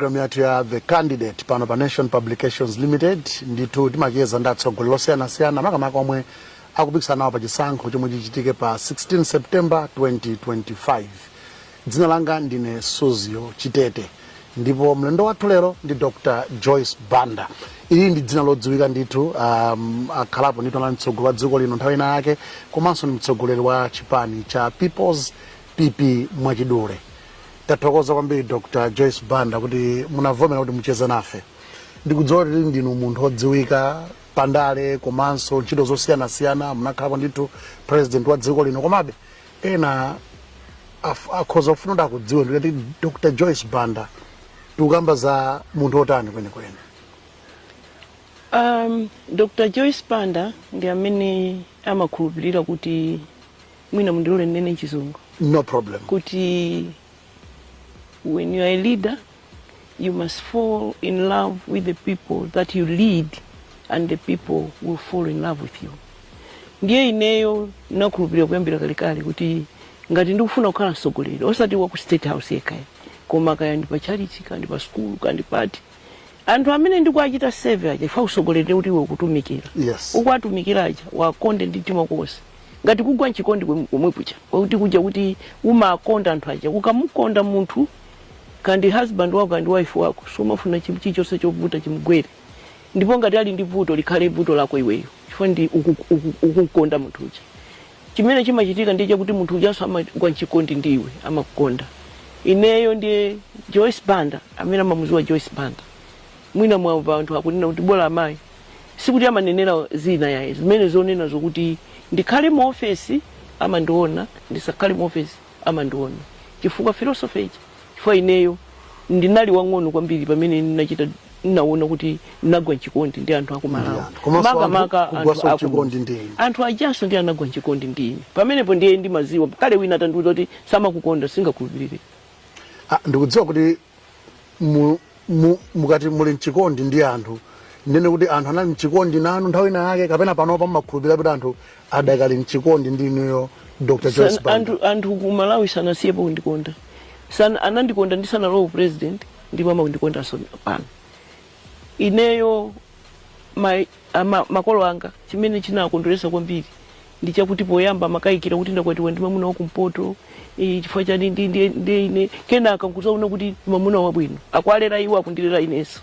Programu yathu ya The Candidate pano pa Nation Publications Limited ndithu timacheza ndi atsogoleri osiyanasiyana makamaka omwe akupikisana nawo pa chisankho chomwe chichitike pa 16 September 2025. Dzina langa ndine Suzio Chitete ndipo mlendo wathu lero ndi Dr. Joyce Banda. Ili ndi dzina lodziwika ndithu um, akhalapo ndithu anali mtsogoleri wa dziko lino nthawi ina yake komanso ndi mtsogoleri wa chipani cha People's pp mwachidule tathokoza kwambiri dr joyce banda kuti munavomera kuti mucheze nafe ndikudziwa kuti ndinu munthu odziwika pandale komanso ntchito zosiyanasiyana munakhalapo ndithu president wa dziko lino komabe ena af- akhoza kufuna kuti akudziwe kuti dr joyce banda tikukamba za munthu otani kwenikweni um, dr joyce banda ndi amene amakhulupirira kuti mwina mundilole ndinene mchizungu no problem kuti when you are a leader you must fall in love with the people that you lead and the people will fall in love with you ndiye ineyo nakhulupirira kuyambira kalekale kuti ngati ndikufuna kukhala mtsogoleri osati wa ku state house yekhayo koma kaya ndi pa tchalitchi kaya ndi pa sukulu kaya ndi pati anthu amene ndikuwachita serve aja chifukwa utsogoleri ndi kuti iwe ukutumikira Yes. ukuwatumikira aja uwakonde ndi mtima wonse ngati kugwa mchikondi kwem- komwe kucha kwakuti kuja kuti umakonda anthu aja ukamukonda munthu kaya ndi husband wako kaya ndi wife wako sumafuna chim- chilichonse chovuta chimgwere ndipo ngati ali ndi vuto likhale vuto lako iweyo chifukwa ndi uku- uku- ukumkonda munthu uja Chimene chimachitika ndiye chakuti munthu ujanso amagwa mchikondi ndi iwe, amakukonda. Ineyo ndiye Joyce Banda amene amamudziwa Joyce Banda. Mwina mwamva anthu akunena kuti bola amayi. Sikuti amanenera zina ayi, zimene zonena zokuti ndikhale mu ofesi amandiona, ndisakhale mu ofesi amandiona chifukwa philosophy ija chifukwa ineyo ndinali wang'ono kwambiri pamene ndinachita ndinaona kuti ndinagwa mchikondi ndi anthu aku malawi Yeah. Komanso anthu makamaka kugwanso anthu aku- mchikondi ndi inu. anthu ajanso ndi anagwa mchikondi ndi ine pamenepo ndiye ndimadziwa kale wina atandiuza kuti samakukonda sindingakhulupirire Ah, ndikudziwa kuti mu- mu- mukati muli mchikondi ndi anthu ndinene kuti anthu anali mchikondi nanu nthawi ina yake kapena panopa mumakhulupirira kuti anthu adakali mchikondi ndi inuyo dr joyce San- banda anthu anthu ku malawi sanasiyepo kundikonda Sana- anandikonda ndisanalowa upresident ndipo akundikondanso pano ineyo ma- ama- makolo anga chimene chinakondweretsa kwambiri ndi chakuti poyamba amakayikira kuti ndakwatiwa ndi mamuna wa kumpoto eh, chifukwa chani ndi- ndi- ndiye ine kenaka nkuzaona kuti ndi mamuna wabwino akuwalera iwo akundilera inenso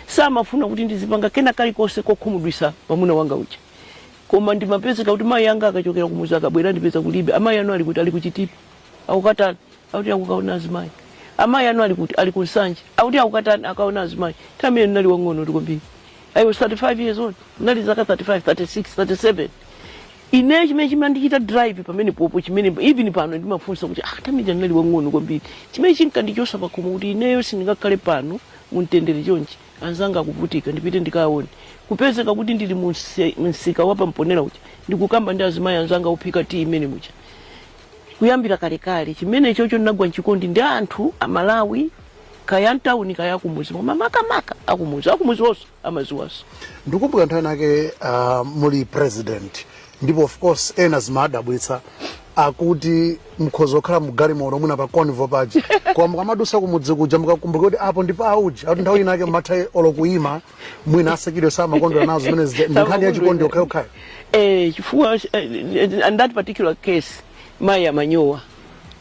samafuna kuti ndizipanga kena kalikonse kokhumudwisa mamuna wanga uja koma ndimapezeka kuti mayi anga akachokera kumuzi akabwera ndipeza kulibe amayi anu ali kuti ali kuchitipa akukatani akuti akukaona azimayi amayi anu ali kuti ali kunsanje akuti akukatani akukaona azimayi tamene ndinali wang'onotu kwambiri i was 35 years old ndinali zaka 35 36 37 ineyo chimene chimandichita drive pamenepopo chimene even pano ndimafunsa kuti ah paja ndinali wang'ono kwambiri chimene chinkandichosa pakhomo kuti ineyo sindingakhale pano muntendere chonchi anzanga akuvutika ndipite ndikaone kupezeka kuti ndili mu mse- msika wa pa Mponela uja ndikukamba ndi azimayi anzanga ophika tiyi mmenemuja kuyambira kalekale chimene chocho ndinagwa mchikondi ndi anthu amalawi kaya mtauni kaya akumuzi koma makamaka akumuzi akumuzi onse amaziwa so ndikukumbuka nthawi inake uh, muli president ndipo of course ena zimadabwitsa kuti mkhoza kukhala mgalimoto mwina pa convoy paja koma mukamadusa kumudzi kuja mukakumbuka kuti apo ndi pa aujeti nthawi inake mumatha olo kuyima mwina a security samakondwera nazo zimene zija ndi nkhani ya chikondi yokhayokhayo eh, chifukwa eh, in that particular case mayi amanyowa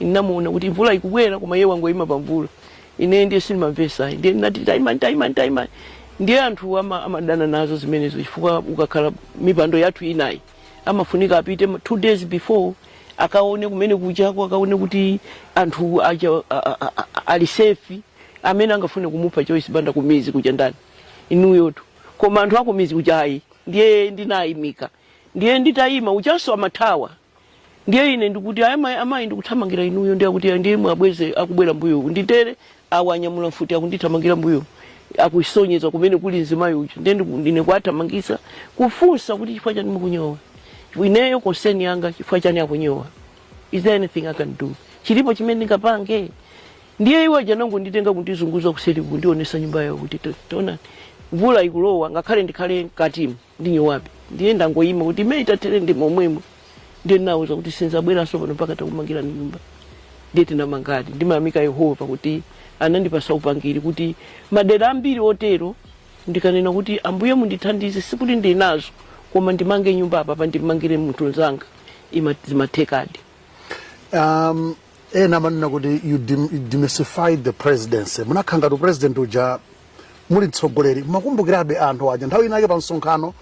ndinamuona kuti mvula ikubwera koma iye wangoyima pa mvula ine ndiye sindimamvesa ayi ndiye ndinati taimani taimani taimani ndiye anthu ama, amadana nazo zimenezo chifukwa ukakhala m'mipando yathu inayi amafunika apite ma- two days before akaone kumene ukupitako akaone kuti anthu aja a- a- a- a- ali safe amene angafune kumupha Joyce Banda kumizi kuja ndani inuyotu koma anthu akumizi kuja ayi ndiye ndinayimika ndiye nditayima ujanso amathawa ndiye ine ndikuti ayi mayi amayi ndikuthamangira inuyo ndiye akuti "Ayi, ndiye mwabweze akubwera mbuyo uku ndithere awa anyamula mfuti akundithamangira mbuyo akusonyeza kumene kuli mzimayi uja ndiye ndiku- ndine kuwathamangisa kufunsa kuti chifukwa chani mukunyowa ineyo concern yanga chifukwa chani akunyowa is there anything i can do chilipo chimene ndingapange ndiye iwo aja anangonditenga kundizungulitsa kuseri kundionesa nyumba yawo kuti ta- taonani mvula ikulowa ngakhale ndikhale mkatimu ndinyowabe. Ndiye ndangoima kuti mmene itathere ndi momwemo. Ndiye ndinawauza kuti sindzabweranso pano mpaka titakumangirani nyumba. Ndiye tinamangadi. Ndimayamika Yehova kuti anandipasa upangiri kuti madera ambiri otero ndikanena kuti Ambuye mundithandize sikuti ndili nazo koma ndimange nyumba apapa ndimangire munthu nzanga zimathekadi. Um, ena amanena kuti you dem- demystified the presidency munakhala ngati u-president uja muli mtsogoleri mmakumbukirabe anthu aja nthawi inake pa msonkhano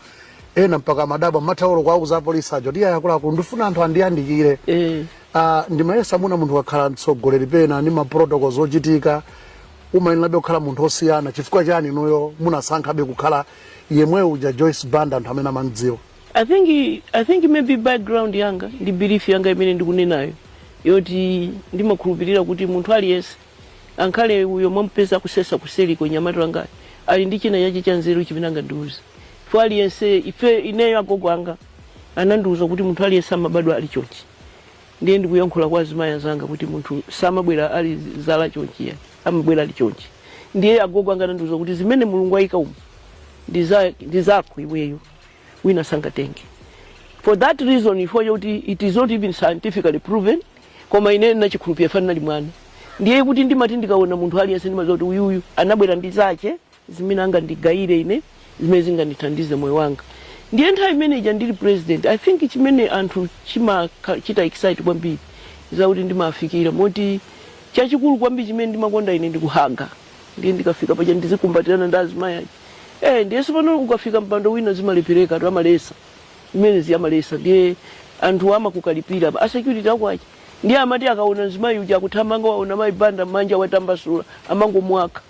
ena mpaka madaba mataulo kwauza apolisi aja kuti ayakulaku ndifuna anthu andiyandikire Eh. Ah, ndimayesa mwina munthu wakhala mtsogoleri pena ndi maprotocol zochitika umayenerabe kukhala munthu osiyana chifukwa chani inuyo munasankhabe kukhala yemwe uja joyce banda anthu amene amamdziwa I think I think maybe background yanga ndi belief yanga imene ndikunenayo yoti ndimakhulupirira kuti munthu aliyense Ankhale uyo mwamupeza akusesa kuseliko mnyamata wangayo ali ndi china chake cha nzeru chimene angandiuze chifukwa aliyense ife ineyo agogo anga anandiuza kuti munthu aliyense amabadwa ali chonchi ndiye ndikuyankhula kwa azimayi anzanga kuti munthu samabwera ali zala chonchi ya amabwera ali chonchi ndiye agogo anga anandiuza kuti zimene mulungu ayika umu ndi za- ndi zako iweyo wina sangatenge for that reason chifukwa chakuti it is not even scientifically proven koma ineyo ndinachikhulupirira chifukwa ndinali mwana ndiye kuti ndimati ndikaona munthu aliyense ndimadziwa kuti uyuyu anabwera ndi zake zimene angandigayire ine zimene zingandithandize moyo wanga ndiye nthawi imene ija ndili president i think chimene anthu chimachita excite kwambiri chakuti ndimafikira moti chachikulu kwambiri chimene ndimakonda ine ndikuhaga ndiye ndikafika paja ndizikumbatirana ndi azimayi aja eh ndiye si pano ukafika mpando wina zimalepherekatu amalesa zimenezi amalesa ndiye anthuwa amakukalipira a security ako aja ndiye amati akaona mzimayi uja akuthamanga waona mayi banda manja watambasula amangomwaka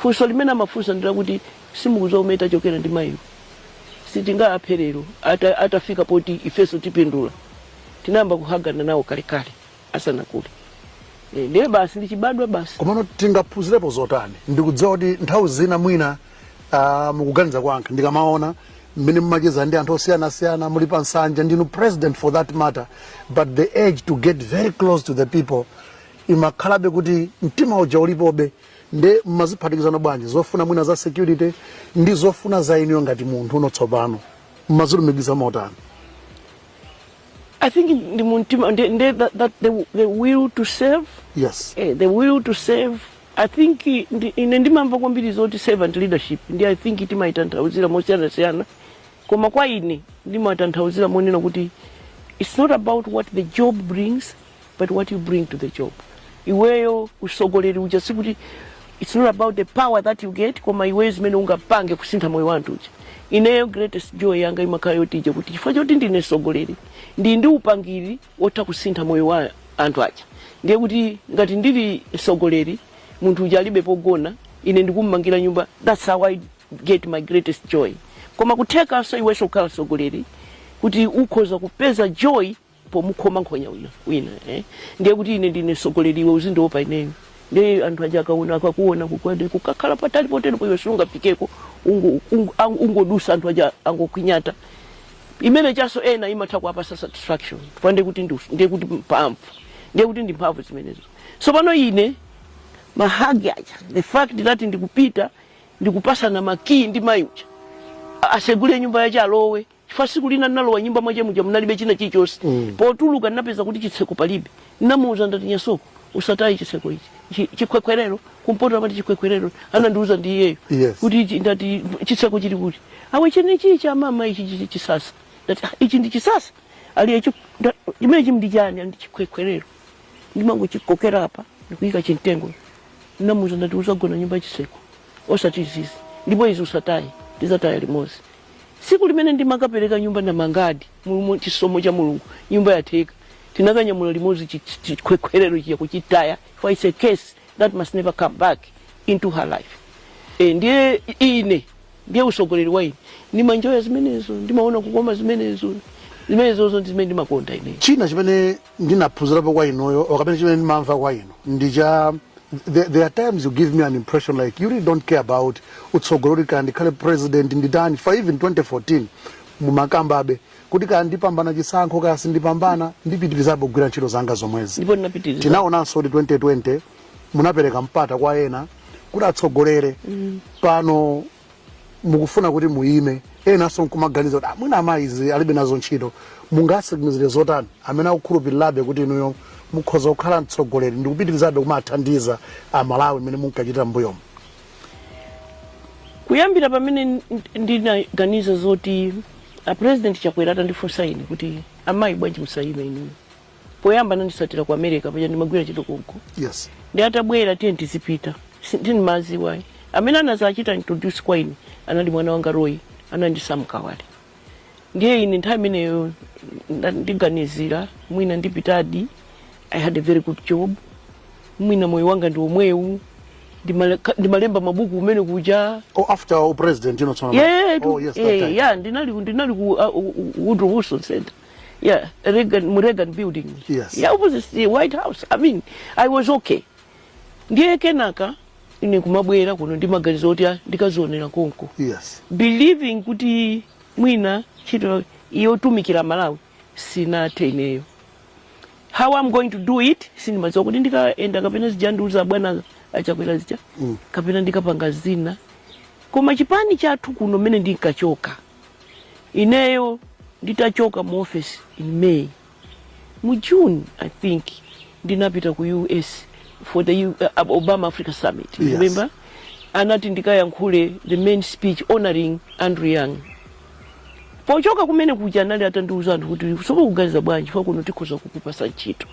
funso limene amafunsa ndilakuti simukudziwa kumene tachokera ndi mayiwo sitingaphe lero atafika poti ifenso tipindula tinayamba kuhagana nawo kalekale asanakule Eh, ndiye basi ndichibadwa basi komano tingaphunzirepo zotani ndikudziwa kuti nthawi zina mwina ah, mukuganiza kwanga ndikamaona mmene mumacheza ndi anthu osiyanasiyana muli pa nsanja ndinu president for that matter but the urge to get very close to the people imakhalabe kuti mtima uja ulipobe nde mumaziphatikiza bwanji zofuna mwina za security ndi zofuna za inuyo ngati munthu ndiye tsopano mmazilumikiza motani I think ndi mumtima ndi, ndi that, that the, the will to serve yes eh, the will to serve I think ndi, ine ndimamva kwambiri zoti servant leadership ndi I think timayitanthauzira mosiyanasiyana koma kwa ine ndimayitanthauzira monena kuti it's not about what the job brings but what you bring to the job iweyo usogoleri uja sikuti it's not about the power that you get koma iweyo zimene ungapange kusintha moyo wa anthu uja ineyo greatest joy yanga imakhala yoti ija kuti chifukwa choti ndine sogoleri ndi ndi upangiri wotha kusintha moyo wa anthu aja ndiye kuti ngati ndili sogoleri munthu uja alibe pogona ine ndikummangira nyumba that's how i get my greatest joy koma nkuthekanso iwenso kukhala sogoleri kuti ukhoza kupeza joy pomukhoma nkhonya wina wina eh? ndiye kuti ine ndine mtsogoleri iwe uzindiopa ineyo ndiye anthu aja akaona akakuona kukwate kukakhala patali potero iwe sungafikeko ungo- ungo- ang- ungodutsa anthu aja angokwinyata imene ijanso ena imatha kuwapatsa satisfaction chifukwa ndiye kuti ndi- ndiye kuti mphamvu ndiye kuti ndi mphamvu zimenezo tsopano ine mahagi aja the fact that ndikupita ndikupatsana makii ndi mayi uja asegule nyumba yace alowe chifukwa tsiku lina ndinalowa nyumba mwache muja munalibe china chilichonse mm. potuluka ndinapeza kuti chitseko palibe ndinamuuza ndati nyasoko usataye chitseko ichi Chi- chikwekwerero kumpoto amati chikwekwerero anandiuza ndi iyeyo Yes. kuti ichi- ndati chitseko chili kuti awe chene ichi cha mama ichi chi- chisasa ndati "Ah, ichi ndi chisasa ali ichi nda- chimene chim ndi chani ndi chikwekwerero ndimangochikokera apa ndikuyika chimtengo ndinamuuza ndati uzagona nyumba yachitseko osati izizi ndipo izi usataye ndizataya limodzi Siku limene ndimakapereka nyumba ndamangadi mulimo chisomo cha mulungu nyumba yatheka tinakanyamula limozi chi- chi- chikwekwerero chija kuchitaya chifukwa its a case that must never come back into her life e, ndiye ine ndiye usogoleri wa ine ndimanjoya zimenezo ndimaona kukoma zimenezo zimenezozo ndi zimene ndimakonda ine china chimene ndinaphunzirapo kwa inuyo or kapena chimene ndimamva kwa inu ndi cha there, there are times you give me an impression like you really don't care about utsogoleri kuti kaya ndikhale president nditani for even 2014 mumakambabe kuti kaya ndipambana chisankho kaya sindipambana ndipitirizabe kugwira ntchito zanga zomwezi ndipo ndinapitiriza tinaonanso kuti 2020 munapereka mpata kwa ena kuti atsogolere pano mukufuna kuti muyime enanso nkumaganiza kuti "Ah, mwina amayi zizi alibe nazo ntchito mungatsimikizire zotani amene akukhulupirirabe kuti inuyo mukhoza kukhala mtsogoleri ndi kupitirizabe kumathandiza amalawi mmene munkachita mbuyomo kuyambira pamene n- ndinaganiza zoti a president chakwera atandifunsa ine kuti amayi bwanji musayime inuyo poyamba ananditsatira ku america paja ndimagwira ntchito konko yes ndiye atabwera tiye ndizipita sindimaziwayi amene anazachita introduce kwa ine anali mwana wanga Roy ndi a Sam Kawale ndiye ine nthawi imeneyo nda- ndiganizira mwina ndipitadi i had a very good job mwina moyo wanga ndi omwewu Ndimale- ka- ndimalemba mabuku kumene kuja oh after oh president you know tsono Yeah, oh yes that yeah, time yeah, ndinali ndinali ku uh, Woodrow Wilson Center Yeah, Reagan, mu Reagan building. Yes. Yeah, opposite the White House. I mean, I was okay. Ndiye kenaka ine kumabwera kuno ndi maganizo oti ah, ndikazionera konko. Yes. Believing kuti mwina ntchito yotumikira Malawi sinathe ineyo. How I'm going to do it sindimadziwa kuti ndikaenda kapena zija andiuza bwana a Chakwera zija Mm. kapena ndikapanga zina koma chipani chathu kuno mmene ndinkachoka ineyo nditachoka mu office in may mu june i think ndinapita ku us for the U- uh, obama africa summit Yes. remember anati ndikayankhule the main speech honoring andrew young pochoka kumene kuja anali atandiuza anthu kuti simukuganiza bwanji za kuno tikhoza kukupasa ntchito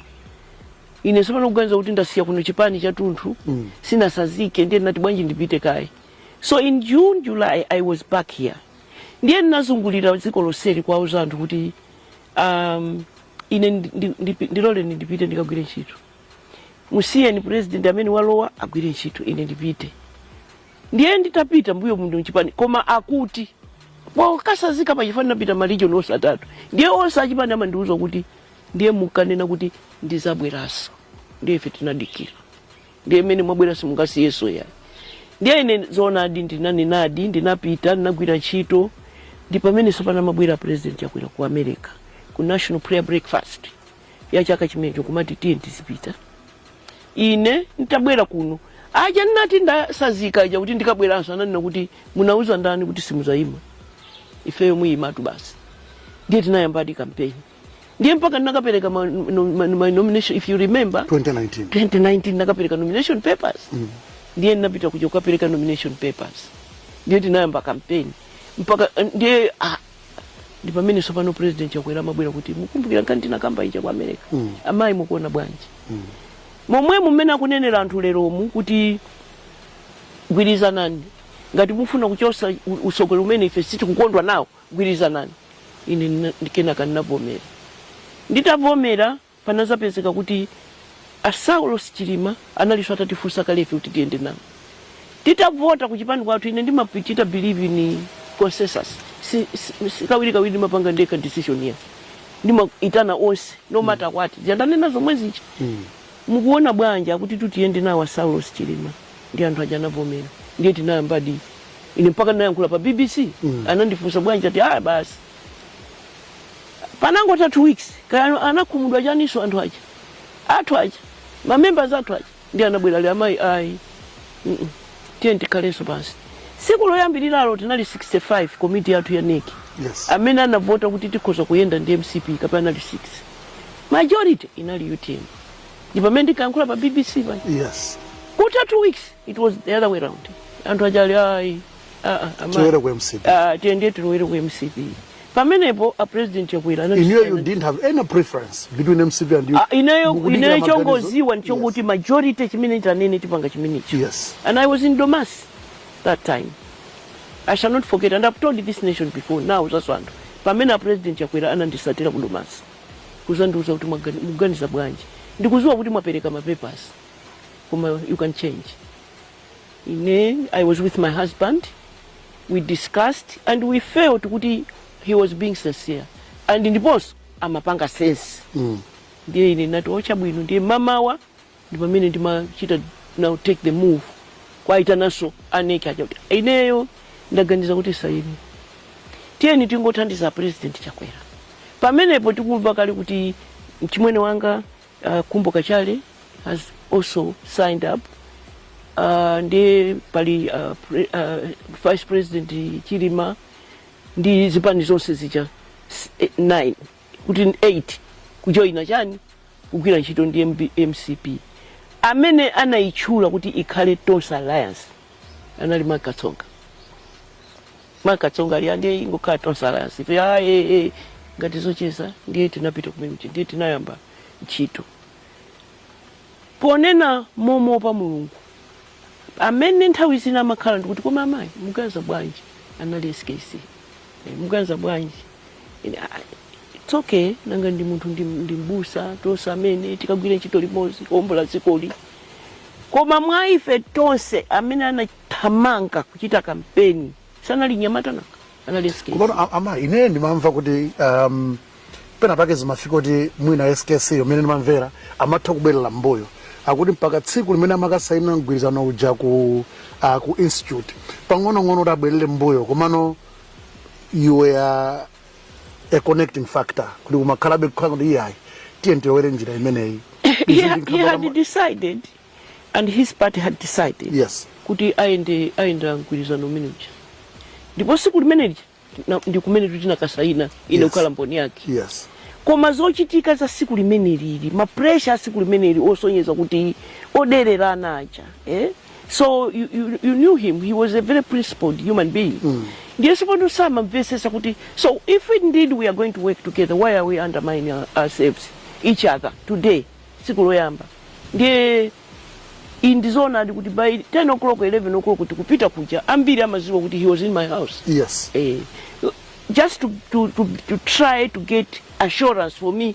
ine sopano kuganiza kuti ndasiya kuno chipani chatunthu mm. sindinasazike ndiye ndinati bwanji ndipite kaye so in june july i was back here ndiye ndinazungulira dziko lonseli kuwauza anthu kuti um, ine ndi- ndi- ndi- ndiloleni ndipite ndikagwire ntchito musiyeni president amene walowa agwire ntchito ine ndipite ndiye nditapita mmbuyo muno mchipani koma akuti pokasazika pachipani ndinapita ma region onse atatu ndiye onse achipani amandiuza kuti ndiye mukanena kuti ndizabweranso ndiye ife tinadikira ndiye mmene mwabwera simungasiyeso ya ndiye ine zoonadi ndinanenadi ndinapita ndinagwira ntchito ndi pamene sopano amabwera president chakwera ku america ku national prayer breakfast ya chaka chimenecho kumati tiyeni tizipita ine nditabwera kuno aja ndinati ndasazika aja kuti ndikabweranso ananena kuti munauza ndani kuti simuzayima inuyo muyimatu basi ndiye tinayambadi kampeni ndiye mpaka ndinakapereka ma, no, ma, my nomination if you remember 2019 2019 ndinakapereka nomination papers mm. ndiye ndinapita kuja kukapereka nomination papers ndiye tinayamba kampeni mpaka eh, ndiye ah, ndi pamene sopano president chakwera amabwera kuti mukumbukira nkhani tinakamba ija ku america mm. amayi mukuona bwanji mm. momwe mmene akunenera anthu leromu kuti gwirizanani ngati mukufuna kuchosa u- usogoleri umene ife sitikukondwa nawo Gwirizanani, ine ndi, kenaka ndinavomera. Nditavomera, panazapezeka kuti a Saulos Chilima analinso atatifunsa kale ife kuti tiyende nawo. Titavota kuchipani kwathu, ine ndimachita believe in consensus, si, si, si kawirikawiri ndimapanga ndekha decision ya ndimaitana onse no matter what, zija ndanena zomwe zija. Mukuona bwanji akuti tiyende nawo a Saulos Chilima ndiye anthu aja anavomera ndiye tinayambadi ine mpaka ndinayankhula pa bbc anandifunsa bwanji ati ah basi panangotha two weeks kaya anakhumudwa chaninso anthu aja athu aja ma members athu aja ndiye anabwera ali amayi ayi mm -mm. tiyeni tikhalenso pansi tsiku loyambiriralo tinali 65 komiti yathu ya NEC Yes. amene anavota kuti tikhoza kuyenda ndi mcp kapena anali 6 majority inali utm ndi pamene ndinkayankhula pa bbc pa yes kutha two weeks it was the other way round anthu aja ali ayi ah, ah, ama- Tilowere ku MCP. Ah, tiyende tilowere ku mcp pamenepo a president chakwera anati- inuyo you didn't have any preference between mcp and you Ah, ineyo Mukudikira ineyo maganizo? chongoziwa ndichonguti majority chimene itanene tipanga chimenecho yes and i was in domasi that time I shall not forget and I've told this nation before now zaso anthu pamene a president chakwera anandisatira ku domasi kuzandiuza kuti mwagani- muganiza bwanji ndikuziwa kuti mwapereka ma papers koma you can change ine i was with my husband we discussed and we felt kuti he was being sincere and ndiponso amapanga sense ndiye ine nati o chabwino ndiye mamawa ndi pamene ndimachita now take the move kuwaitananso a nec aja kuti ineyo ndaganiza kuti saini tiyeni tingothandiza president chakwera pamenepo tikumva kale kuti mchimwene wanga uh, khumbo kachali has also signed up uh, ndi pali uh, pre, uh, vice president chilima ndi zipani zonse zija s- eh, nine kuti 8 kujoyina chani kugwira ntchito ndi MB mcp amene anayitchula kuti ikhale tonse alliance anali Mark Katsonga Mark Katsonga ali a ndiye ingokhala tonse alliance ife ah, eh, eh, ngati zocheza ndiye tinapita kumene kuti ndiye tinayamba ntchito ponena momo pa mulungu pamene nthawi zina amakhala ndikuti koma amayi muganiza bwanji anali skc Eh, muganiza bwanji Ine, "Ah, it's okay nanga ndi munthu ndi, ndi mbusa tonse amene tikagwira ntchito limodzi kuombola dzikoli koma mwa ife tonse amene anathamanga kuchita kampeni sanali mnyamata nanga anali skc Komano a- amayi ine ndimamva kuti um, pena pake zimafika kuti mwina skc mmene ndimamvera amatha kubwerera mbuyo akuti mpaka tsiku limene amakasayina mgwirizano uja ku, uh, ku institute pang'onong'ono kuti abwerere mbuyo komano you were a connecting factor kuti kumakhalabe kukhala kuti iyayi tiyeni tilowere njira imeneyi he, Izi had, ndi he had nkhabala- decided and his party had decided yes kuti ayende ayenda mgwirizano umene uja ndipo siku limene lija na- ndi kumene tutinakasayina ine Yes. kukhala mboni yake yes koma zochitika za siku limeneli mapresha a siku limeneli osonyeza kuti odererana aja eh? so you, you, you knew him he was a very principled human being mm. ndiye sipano samamvesesa kuti so if indeed we are going to work together why are we undermining our- ourselves each other today tsiku loyamba ndiye iyi ndizoonadi kuti by 10 o'clock 11 o'clock kuti kupita kuja ambiri amaziwa kuti he was in my house yes eh, just to, to, to, to try to get assurance for me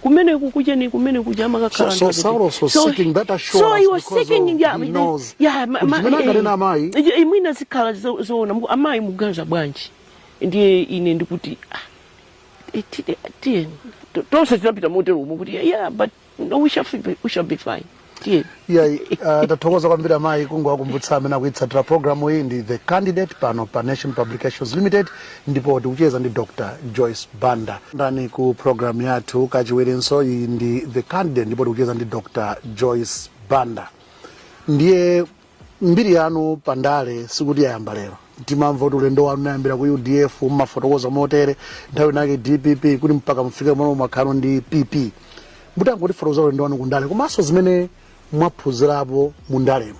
kumene kukuja ni kumene kuja amakakhala so, so, Saulos was so, seeking that assurance so he was seeking of, yeah, he knows yeah, ma, ma, eh, eh, eh, mwina zikhala zoona zo, amayi muganza bwanji ndiye ine ndikuti ah, eh, tiyeni tonse tinapita motero umo kuti yeah but no, we shall, we shall be fine iyayi uh, tathokoza kwambiri amayi kungowakumbutsa amene akuitsatira programu iyi ndi the candidate pano pa nation publications limited ndipo tikucheza ndi dr joyce banda ndani ku programu yathu kachiwirenso iyi ndi the candidate ndipo tikucheza ndi dr joyce banda ndiye mbiri yanu pa ndale sikuti yayamba lero timamva kuti ulendo wanu unayambira ku udf mumafotokoza motere nthawi inake dpp kuti mpaka mufike pamene mwakhalo ndi pp mutangotifotokozera ulendo wanu ku ndale komanso zimene mwaphunzirapo mu ndalemo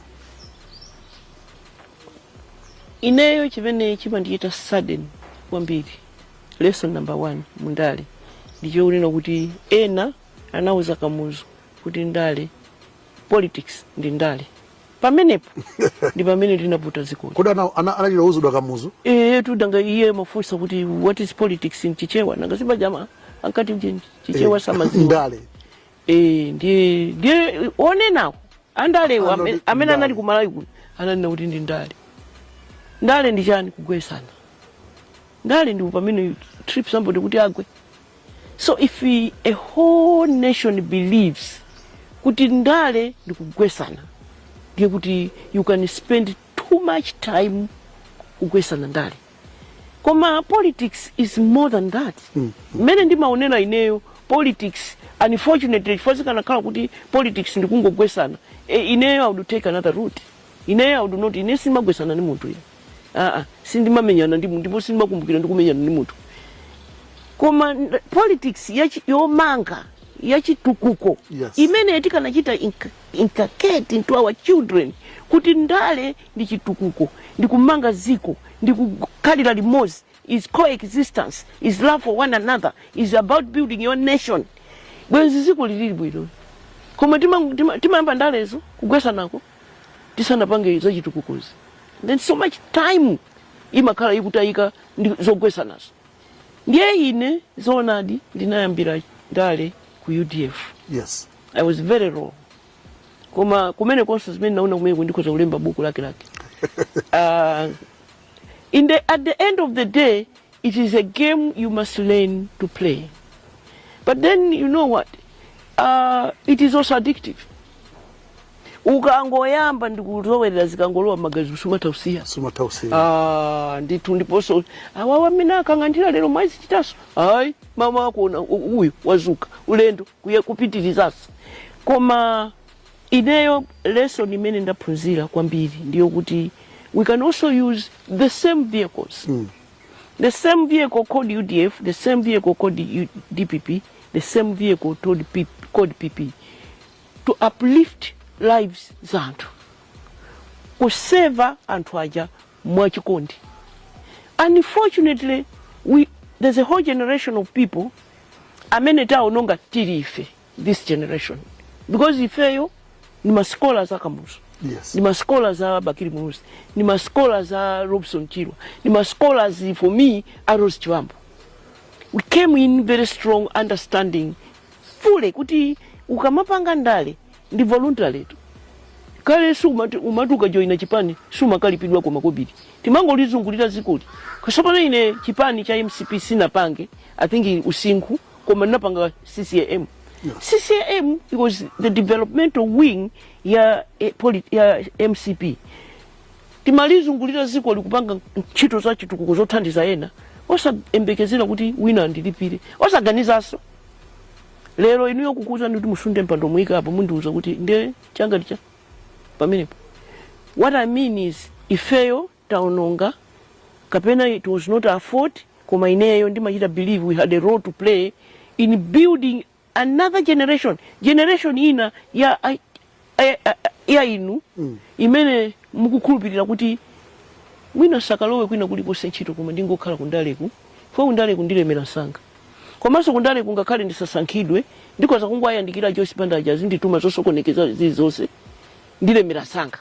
ineyo chimene chimandichita sadden kwambiri lesson number one mundale ndichokunena kuti ena anauza kamuzu kuti ndale politics ndi ndale pamenepo ndi pamene linaputa dzikoli kodi ana- ana- anachita kuuzidwa kamuzu iye titanga iye mafunsa kuti what is politics in chichewa nanga si paja ankati kuti chichewa samadziwa ndale Eh, ndiye ndiye onenawo andalewo Anali amene- amene ndale. anali kumalawi kuno ananena kuti ndi ndale ndale ndi chani kugwesana ndale ndi pamene trip somebody kuti agwe So if we, a whole nation believes kuti ndale ndikugwesana ndiye kuti you can spend too much time kugwesana ndale koma politics is more than that mmene ndimaonera ineyo politics unfortunately chifukwa zikanakhala kuti politics ndikungogwesana e, ineyo i would take another route Ineyo I would not ine sindimagwesana ndi munthu ine aa sindimamenyana ndi munthu ndipo sindimakumbukira ndikumenyana ndi munthu koma n- politics yachi- yomanga yachitukuko Yes. imene tikanachita inc- inculcate into our children kuti ndale ndi chitukuko ndi kumanga dziko ndi kukhalira limodzi is coexistence is love for one another is about building your nation bwenzi dziko lili bwino koma timayamba tima, tima ndalezo kugwesanako tisanapange zachitukukozo then so much time imakhala ikutayika ndi zogwesanazo ndiye ine zoonadi ndinayambira ndale ku udf yes i was very raw koma kumene konse zimene ndaona kumeneko ndikhoza kulemba buku lake lake uh, Inde, at the end of the day, it is a game you must learn to play. But then, you know what? Uh, it is also addictive. ukangoyamba ndikuzolowera zikangolowa mmagazi sumatha kusiya sumatha kusiya Ah, ndithu ndiponso awawa amene akang'andira lero mwazichitanso ayi mawa akuona u- uyu wazuka ulendo kuye kupitirizanso koma Ineyo lesson imene ndaphunzira kwambiri ndiyo kuti we can also use the same vehicles mm. the same vehicle called udf the same vehicle called U dpp the same vehicle called PP, called PP to uplift lives za anthu kuseva anthu aja mwachikondi unfortunately we, there's a whole generation of people amene taononga tili ife this generation because ifeyo ni masikola za kamuzu yes. ni masikola za bakiri muluzi ni masikola za robson chirwa ni masikola for me a rose chibambo we came in very strong understanding fully kuti ukamapanga ndale ndi voluntary tu kale sumati umati ukajoina chipani sumakalipidwa kwa makobiri timangolizungulira dzikoli kasopano ine chipani cha mcp sinapange i think usinkhu koma napanga ccam ccam it was the developmental wing ya, eh, poli- ya mcp timalizungulira dzikoli kupanga ntchito za chitukuko zothandiza ena osayembekezera kuti wina andilipire osaganizanso lero inuyo kukuuzani kuti musunthe mpando muyike apo mundiuza kuti nde changa ndi cha pamenepo what i mean is ifeyo taononga kapena it was not our fault koma ineyo ndimachita believe we had a role to play in building another generation generation ina ya, ya, ya, ya inu mm. imene mukukhulupirira kuti mwina sakalowe kwina kulikonse ntchito koma ndingokhala kundaleku fo kundaleku ndilemera msanga komanso kundaleku ngakhale ndisasankhidwe ndikhoza kungowayandikira joyce banda aja azindituma zosokonekeza zilizonse ndilemera msanga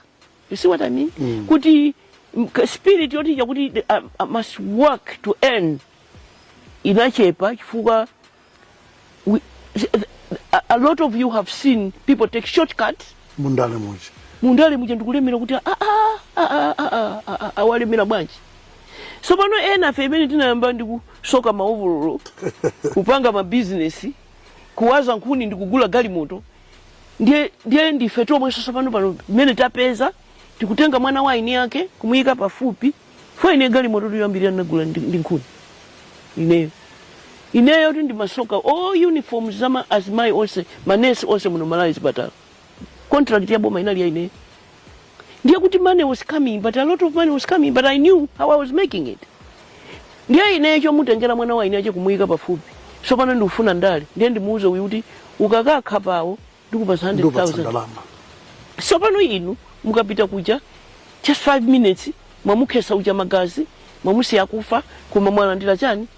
You see what I mean? Mm. Kuti spirit yoti ya kuti I, um, I uh, must work to earn inachepa chifukwa we, a, a lot of you have seen people take shortcuts mundale muja mundale muja ndikulemera kuti awa alemera bwanji sopano enafe amene tinayamba ndi kusoka maovololo kupanga mabizinesi kuwaza nkhuni ndi kugula galimoto ndiye ndiye ndife tomwenso tsopano pano mmene tapeza tikutenga mwana wa eni ake kumuyika pafupi fo ine galimoto yoyambirira ndinagula ndi ndi nkhuni ineyo ineyo ti ndimasoka all uniform za ma- azimayi onse manesi onse muno malawi zipatala contract ya boma inali ya ineyo ndiye kuti money was coming but a lot of money was coming but i knew how i was making it ndiye ineyo chomutengera mwana wa eni ache kumuyika pafupi sopano ndikufuna ndale ndiye ndimuuze uyu kuti ukakakhapa awo ndikupasa ndikupatsa 100000 ndalama sopano inu mukapita kuja just 5 minutes mwamukhetsa uja magazi mwamusiya kufa koma mwalandira chani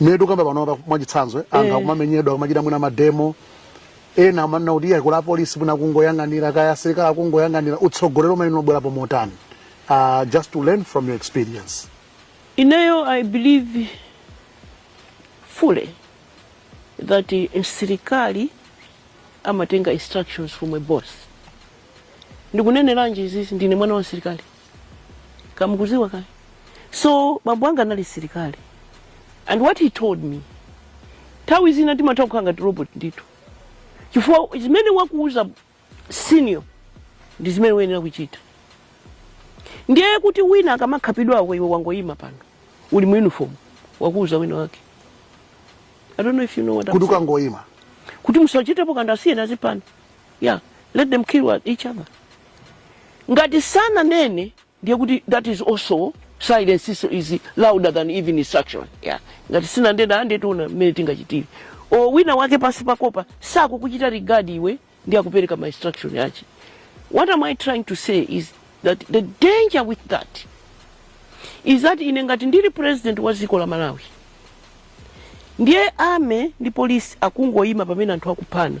mmene tikukamba panopa mwachitsanzo eh, anthu Eh. akumamenyedwa akumachita mwina mademo ena amanena kuti iye kuli apolisi mwina akungoyang'anira kaya asilikali akungoyang'anira utsogoleri umene unabwerapo motani uh, just to learn from your experience Ineyo, I believe fully that eh, msilikali amatenga instructions from a boss. Ndikuneneranji izizi ndine mwana wa msilikali. kamukudziwa kale so bambo anga anali silikali and what he told me nthawi zina timatha kukhala ngati robot ndithu chifukwa zimene wakuuza senior ndi zimene uyenera kuchita ndiye kuti wina akamakhapidwako iwe wangoyima pano uli mu uniform wakuuza wina wake i don't know if you know what I'm kuti saying. ukangoyima kuti musachitepo kanthu asiyeni aziphana yeah let them kill each other ngati sananene ndiye kuti that is also silence is, is louder than even instruction yeah. ngati sindinanene nde tiona mmene tingachitire o wina wake pansi pakopa sakuchita regard iwe ndi akupereka ma instruction ache what am i trying to say is that the danger with that is that ine ngati ndili president wa dziko la malawi ndiye army ndi polisi akungoyima pamene anthu akuphana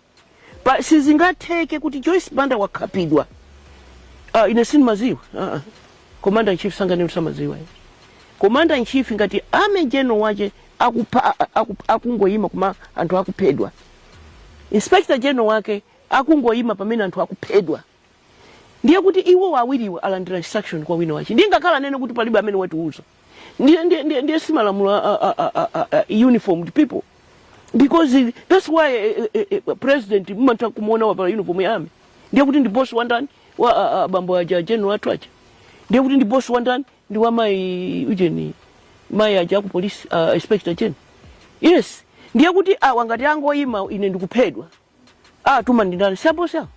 but sizingatheke kuti joyce banda wakhapidwa ah, ine sindimadziwa ah, ah. commander in chief sanganene samadziwa iye. commander in chief ngati army general wache akupha- a- a- aku- akungoyima kuma anthu akuphedwa inspector general wake akungoyima pamene anthu akuphedwa ndiye kuti iwo awiriwa alandira instruction kwa wina wache ndiye ngakhale anene kuti palibe amene watiuza ndiye ndiye ndiye ndiye si malamulo a, a, a, a, a, a uniformed people because it- that's why eh, eh, eh, president mmatha kumuona wavala uniform ya army ndiye kuti ndi boss wa ndani wa a- a- bambo aja general athu aja ndiye kuti ndi boss wa ndani ndi wa mai ujeni mai aja aku police uh, inspector general yes ndiye kuti awa ngati angoyima ine ndikuphedwa Atuma ndi ndani? Siapo siapo.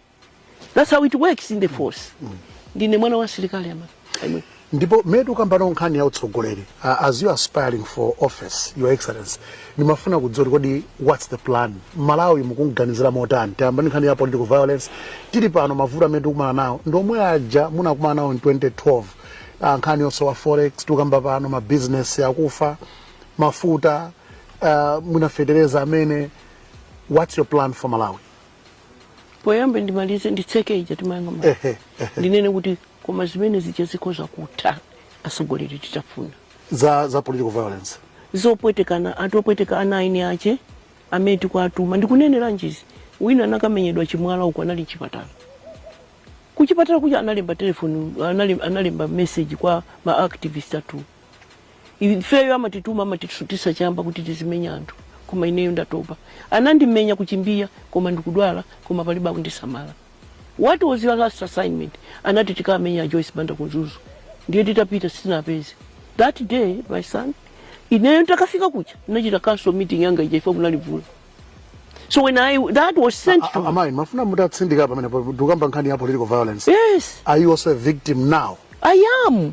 That's how it works in the force. Mm. Ndine mwana wa silikali ama. Aimwe. Ndi pomwe tukambano nkhani ya utsogoleli. Uh, as you are aspiring for office, your excellency, ndimafuna kudziwa kuti kodi what's the plan? Malawi mukumganizira motani. Tiyamba ni nkhani ya political violence. Tili pano mavuto amene tukumana nao. Ndi omwe aja munakumana nao in 2012. Ah, nkhani yosowa forex tukamba pano mabizinesi akufa mafuta uh, ah, muna fetereza amene what's your plan for malawi poyambe ndimalize nditseke ija timayankhayo ma- ehe ehe ndinene kuti koma zimene zija zikhoza kutha atsogoleri titafuna za za political violence zopwetekana anthu opweteka ana a eni ache amene tikuatuma ndikunenera ndi izi wina anakamenyedwa chimwala uko anali mchipatala kuchipatala kuja analemba telefoni anale- analemba message kwa maactivist athu ifeyo amatituma amatisutitsa chamba kuti tizimenya anthu koma ineyo ndatopa anandimenya ku Chimbiya koma ndikudwala koma palibe akundisamala what was your last assignment anati tikamenya a joyce banda ku Mzuzu ndiye titapita sitinapeze that day my son ineyo ndikafika kuja ndinachita council meeting yanga ija ife kunali vula so when I, that was sent to me amayi ndimafuna mutatsindika pamene ndikukamba nkhani ya political violence yes are you also a victim now i am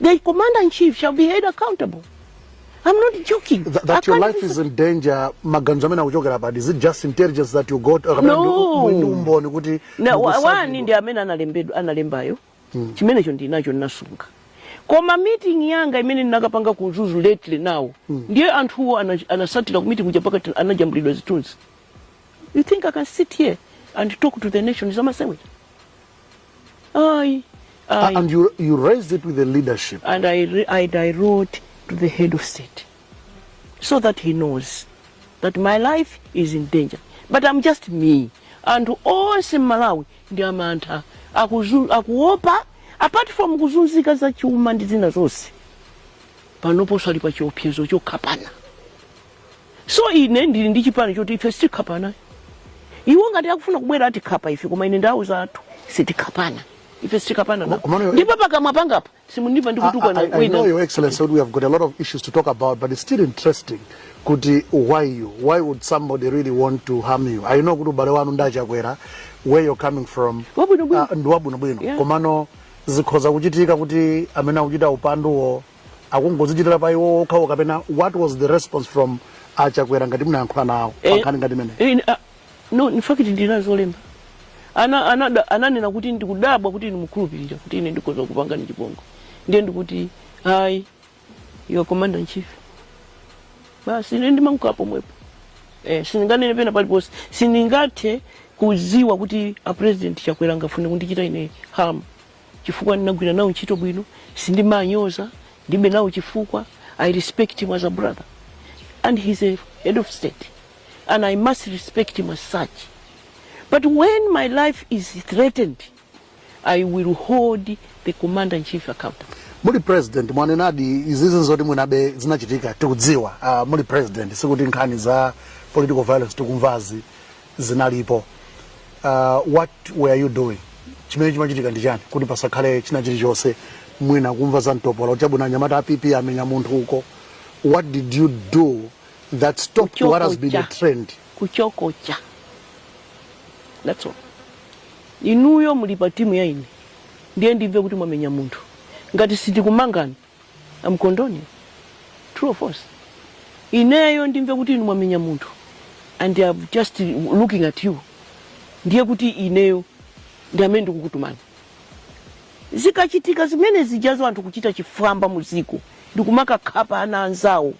The commander in chief shall be held accountable. I'm not joking. Th- that your life is in danger maganizo amene akuchokera pati is it just intelligence that you got or kapena No. ndi- ndi umboni kuti na wa- mukusadzi- wani ndi amene analembedwa analembayo chimenecho ndinacho ndinasunga koma meeting yanga imene ndinakapanga ku Mzuzu lately now ndiye anthuwo ana- anatsatira ku meeting kuja pakati anajambulidwa zithunzi you think i can sit here and talk to the nation zamasewera Aye. Ah, Aye. And you, you raised it with the leadership. and I, re- and I wrote to the head of state so that he knows that my life is in danger. But I'm just me. Anthu onse m'Malawi ndi amantha Akuzu- akuopa apart from kuzunzika za chuma ndi zina zonse panoponso ali pa chiopsezo chokhapana so ine ndili ndi chipani choti ife sitikhapana iwo ngati akufuna kubwera atikhapa ife koma ine ndauza anthu sitikhapana ife sitikhapana Koma- koma nawo. no- ndipo pakamwa pangapa simundipa I, I, I know, ndikutukwana Your Excellency, that we have got a lot of issues to talk about, but it's still interesting. Kuti, why you? Why would somebody really want to harm you? I know kuti ubale wanu ndi a Chakwera, where you're coming from. Ndi wabwinobwino. Ah, ndi wabwinobwino. Yeah. Komano zikhoza kuchitika kuti amene akuchita upanduwo akungozichitira pa iwo okhawo kapena what was the response from a Chakwera ngati munayankhula nawo Eh, pankhani ngati imene eh, ah, no in fact ndinawalembera ana anada- ananena kuti ndikudabwa kuti inu mukhulupirira kuti ine ndikhoza kupangani chipongwe ndiye ndikuti ayi you're commander in chief basi ine ndimangonena pomwepo eh, sindinganene pena paliponse sindingathe kudziwa kuti a president chakwera angafune kundichita ine harm chifukwa ndinagwira nawo ntchito bwino sindimanyoza ndibe nawo chifukwa i respect him as a brother and he's a head of state and i must respect him as such but when my life is threatened i will hold the commander in chief accountable muli president mwanenadi izizi zoti mwinabe zinachitika tikudziwa uh, muli president sikuti nkhani za political violence tikumvazi zinalipo uh, what were you doing chimene chimachitika ndi chani kuti pasakhale china chilichonse mwina kumva za mtopola kuti chabwino anyamata a pp amenya munthu uko what did you do that stopped what has been a Kuchokocha. trend kuchokocha that's all inuyo muli pa timu ya ine ndiye ndimve kuti mwamenya munthu ngati sitikumangani I'm condoning. True or false? Ineyo ndimve kuti inu mwamenya munthu and I'm just looking at you. Ndiye kuti ineyo ndi amene ndikukutumani. Zikachitika zimene zijazo anthu kuchita chifwamba mu dziko ndikumakakhapa ana anzawo.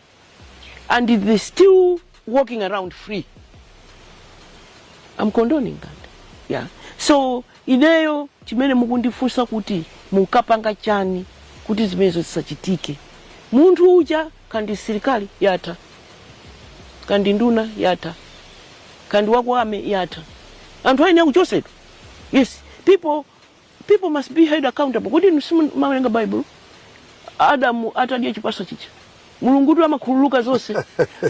and they still walking around free I'm condoning that yeah so ineyo chimene mukundifunsa kuti mukapanga chani kuti zimenezo zisachitike munthu uja kaya ndi msirikali yatha kaya ndi nduna yatha kaya ndi wakwame yatha anthu ayenera kuchosedwa yes people People must be held accountable. Kodi inu simumawerenga Baibulo? Adamu atadya chipaso chija, Mulungutu amakhululuka zonse.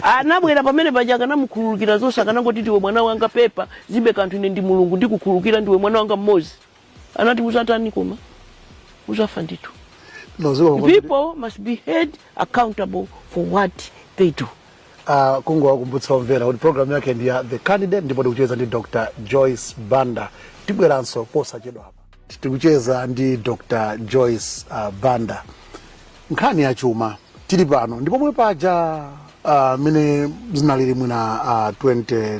Anabwera pamene paja akanamukhululukira zonse, akanangoti ndiwe mwana wanga, pepa zilibe kanthu, ine ndi Mulungu ndikukhululukira, ndiwe mwana wanga mmodzi. Anati uzatani koma uzafa ndithu. People must be held accountable for what they do. uh, kungowakumbutsa omvera kuti programu yake ndi ya the candidate ndipo tikucheza ndi dr joyce banda tibweranso posachedwa apa tikucheza ndi dr joyce uh, banda nkhani ya chuma tili pano ndipo pomwe paja mmene uh, zinalili mwina uh, 2012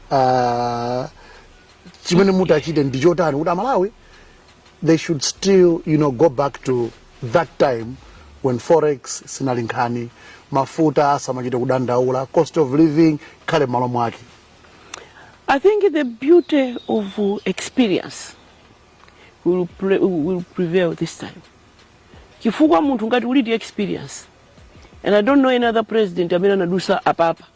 uh, chimene mutachite ndi chotani kuti amalawi they should still you know go back to that time when forex sinali nkhani mafuta asamachite kudandaula cost of living ikhale m'malo mwake I think the beauty of uh, experience will, pre will prevail this time. Chifukwa munthu ngati uli ndi experience and I don't know any other president amene anadusa apapa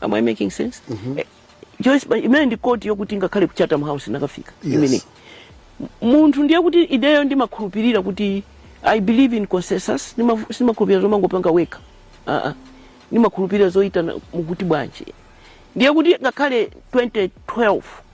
am i making sense mm -hmm. eh, joyce banda imene ndi quote yokuti ngakhale ku chatham house inakafika yes. imene munthu ndiye kuti ineyo ndimakhulupirira kuti i believe in consensus sindimakhulupirira zomangopanga wekha uh -uh. ndimakhulupirira zoyitana mukuti bwanji ndiye kuti ngakhale 2012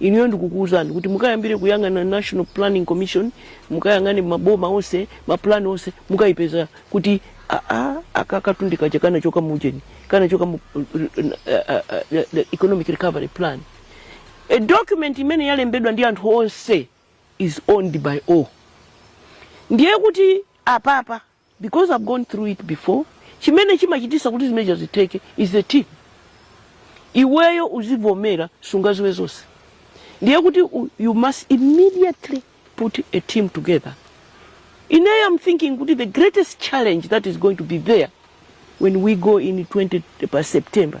Inuyo ndikukuuzani kuti mukayambire kuyang'ana National Planning Commission, mukayang'ane maboma onse, mapulani onse, mukayipeza kuti aa akakatu ndi kaja kanachoka mu ujeni, kanachoka mu uh, uh, uh, the economic recovery plan. A document imene yalembedwa ndi anthu onse is owned by all. Ndiye kuti apapa because I've gone through it before chimene chimachitisa kuti zimenezo zitheke is the team iweyo uzivomera sungaziwe zonse ndiye kuti you must immediately put a team together ineyo am thinking kuti the greatest challenge that is going to be there when we go in 20 by september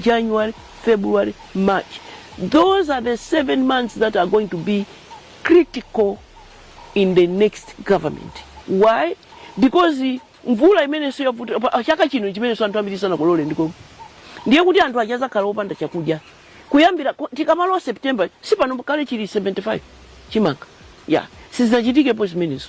January, February, March, those are the seven months that are going to be critical in the next government. Why? Because mvula imeneso yavuta pa- chaka chino chimenenso anthu ambiri sanakolore ndiko ndiye kuti anthu aja azakhala opanda chakudya kuyambira ku- tikamalowa september si pano kale chili 75 chimanga ya sizinachitikepo zimenezo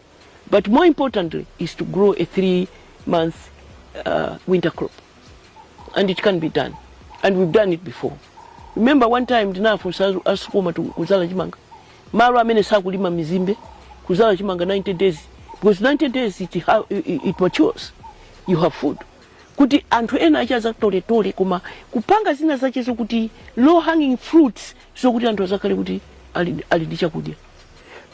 but more importantly is to grow a three month uh, winter crop and it can be done and we've done it before remember one time ndinafunsa a Sucoma kuzala chimanga malo amene sakulima mizimbe kuzala chimanga 90 days because 90 days it, ha, it, it matures you have food kuti anthu ena aja azatoletole koma kupanga zina zache zokuti low hanging fruits zokuti anthu azakhale kuti ali, ali ndi chakudya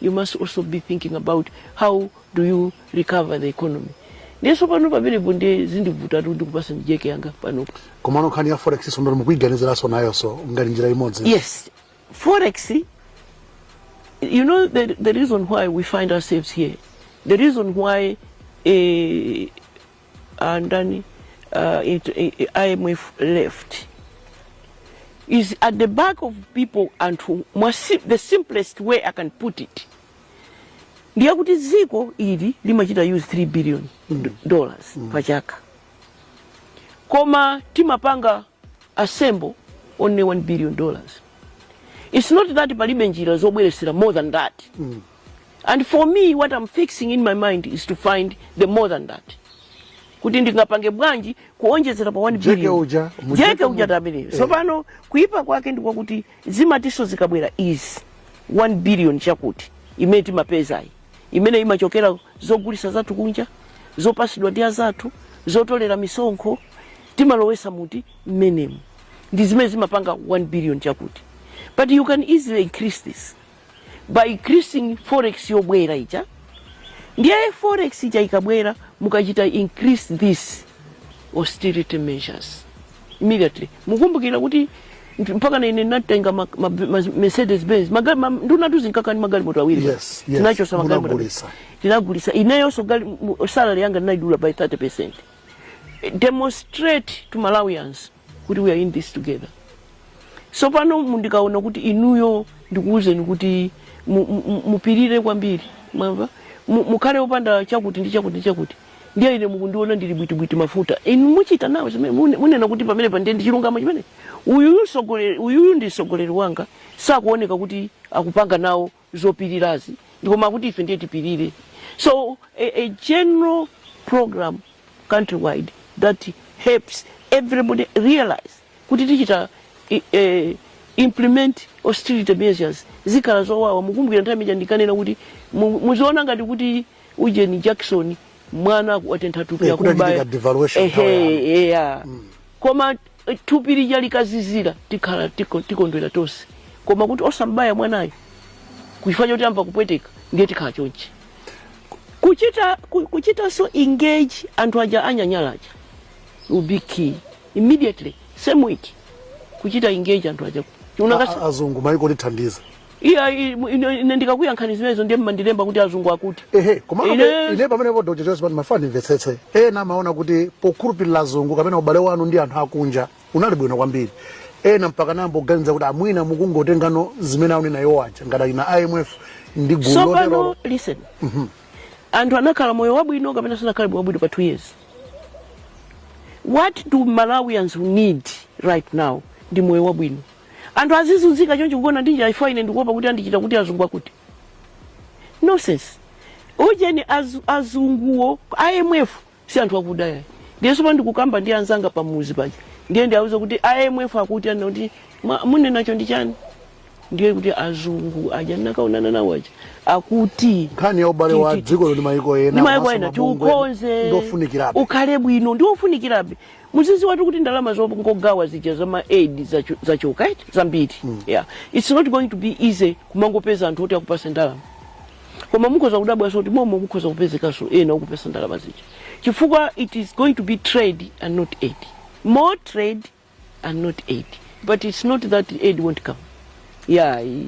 You must also be thinking about how do you recover the economy. Ndiye tsopano pamenepo ndiye zindivutatu kuti kupasa njeke yanga panopo. komano nkhani ya forex-so ndati mukuiganiziranso nayonso ngati njira imodzi Yes, forex. You know the the reason why we find ourselves here, the reason why uh, uh, ndani uh, it, it, IMF left is at the back of people anthu mwa si, the simplest way I can put it ndiye kuti dziko ili limachita use 3 billion mm. dollars mm. pachaka koma timapanga assemble only 1 billion dollars it's not that palibe njira zobweresera more than that mm. and for me what I'm fixing in my mind is to find the more than that kuti ndingapange bwanji kuonjezera pa 1 jeke uja jeke uja tabiri eh. so pano kuipa kwake ndi kwakuti zimatheso zikabwera is 1 billion chakuti imene timapezayi imene imachokera zogulisa zathu kunja zopasidwa ndi azathu zotolera misonkho timalowesa muti mmenemu ndi zimene zimapanga 1 billion chakuti but you can easily increase this by increasing forex yobwera ija ndiye forex ija ikabwera mukachita increase this austerity measures immediately mukumbukira kuti ndi- mpaka na ine ndinatenga ma- ma- ma- mercedes benz Maga- ma- ndunatu zinkakhala ndi magalimoto awiri Yes, yes, tinachosa magalimoto munagulisa. tinagulisa ineyonso gali- mu- salary yanga ndinaidula by 30 percent demonstrate to malawians kuti we are in this together sopano mundikaona kuti inuyo ndikuwuzeni kuti mupirire kwambiri mwamva mukhale opanda chakuti ndi chakuti ndi chakuti ndiye ine mukundiona ndili bwitibwiti mafuta inu muchita nawo zimene munena kuti pamenepa ndiye ndi chilungamo chimene uyuyu sogoleri uyuyu ndi sogoleri wanga sakuoneka kuti akupanga nawo zopirirazi ndikoma kuti ife ndiye tipirire so a, a general program countrywide that helps everybody realize kuti tichita i- eh, implement austerity measures zikhala zowawa mukumbukira nthawi imene ija ndikanena kuti mu- muziona ngati kuti ujeni jackson mwana watentha thupi Eh, kuti achitike devaluation nthawi yanu. eya koma thupi lija likazizira tikhala tiko- tikondwera tonse koma kuti osambaya mwanayo chifukwa choti amva kupweteka ndiye tikhala chonchi kuchita ku- kuchitanso engage anthu aja anyanyala aja will be key immediately same week kuchita engage anthu aja A- a- azungu maiko otithandiza iya i- ine ine ndikakuyankhani zimenezo ndiye mmandilemba kuti azungu akuti ehe koma Ine- ine pamenepo doctor chifukwa pano ndimafuna ndimvetsetse ena amaona kuti pokhulupirira azungu kapena ubale wanu ndi anthu akunja unali bwino kwambiri ena mpaka kuyamba kuganiza kuti a mwina mukungotengano zimene akunena iwo aja ngati ana a imf ndi gulu sopano loterolo listen anthu anakhala moyo wabwino kapena sanakhala moyo wabwino pa two years what do malawians need right now ndi moyo wabwino anthu azizunzika chonchi kugona ndi njala chifukwa ine ndikuopa kuti andichita kuti azungu akuti nonsense ujeni az, azunguwo imf si anthu akuda yayi ndiye sopano ndikukamba ndi anzanga pamudzi paja ndiye ndiauza kuti imf akuti ana kuti "Mwa- munenacho ndi chani ndiye kuti azungu aja ndinakaonana nawo aja akuti nkhani ya ubale wa Ti- ti- ti- dziko ndi mayiko ena ndi maiko komanso ena mabungwe tiukonze ndofunikirabe ukhale bwino ndiofunikirabe muzidziwatu kuti ndalama zongogawa zija za ma aid zachu- zachoka eti zambiri yeah. its not going to be easy kumangopeza anthu oti akupatse ndalama koma mukhoza kudabwanso kuti momwemo kukhoza kupezekanso ena okupatsa ndalama zija chifukwa it is going to be trade and not aid more trade and not aid but it's not that aid won't come ya i-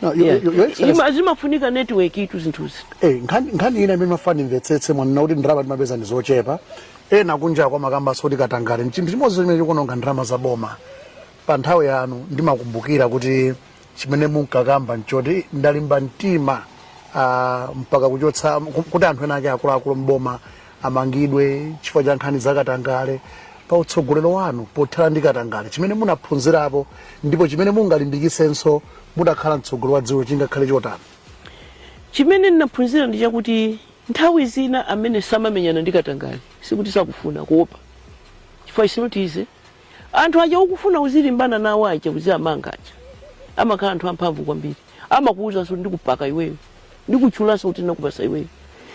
No, your- ya. your- your Excellency- Ima- zimafunika networkitu zinthuzi Eh, nkhani nkhani ina imene ndimafuna ndimvetsetse mwanena kuti ndalama timapeza ndi zochepa ena kunjaku amakambanso kuti katangale chinthu chimodzi chimene chikuononga ndalama za boma pa nthawi yanu ndimakumbukira kuti chimene munkakamba nchoti ndalimba mtima ah, mpaka kuchotsa ku- kuti anthu ena ake akuluakulu mboma amangidwe chifukwa cha nkhani za katangale pa utsogolero wanu pothana ndi katangale chimene munaphunzirapo ndipo chimene mungalimbikitsenso mutakhala mtsogoleri wa dziko chingakhale chotani chimene ndinaphunzira ndi chakuti nthawi zina amene samamenyana ndi katangale sikuti sakufuna kuopa chifukwa it's not easy Anthu aja ukufuna uzilimbana nawo aja uziamanga aja amakhala anthu amphamvu kwambiri amakuwuzanso kuti ndikupaka iweyo ndikutchulanso kuti ndinakupatsa iweyo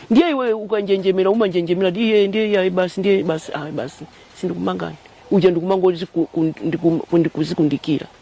ndiye iweyo ukanjenjemera umanjenjemera kuti iye ndiye iye ayi basi ndiye basi ayi basi sindikumangani uja ndikumangoti ziku- kundi- kum- kundi- kuzikundikira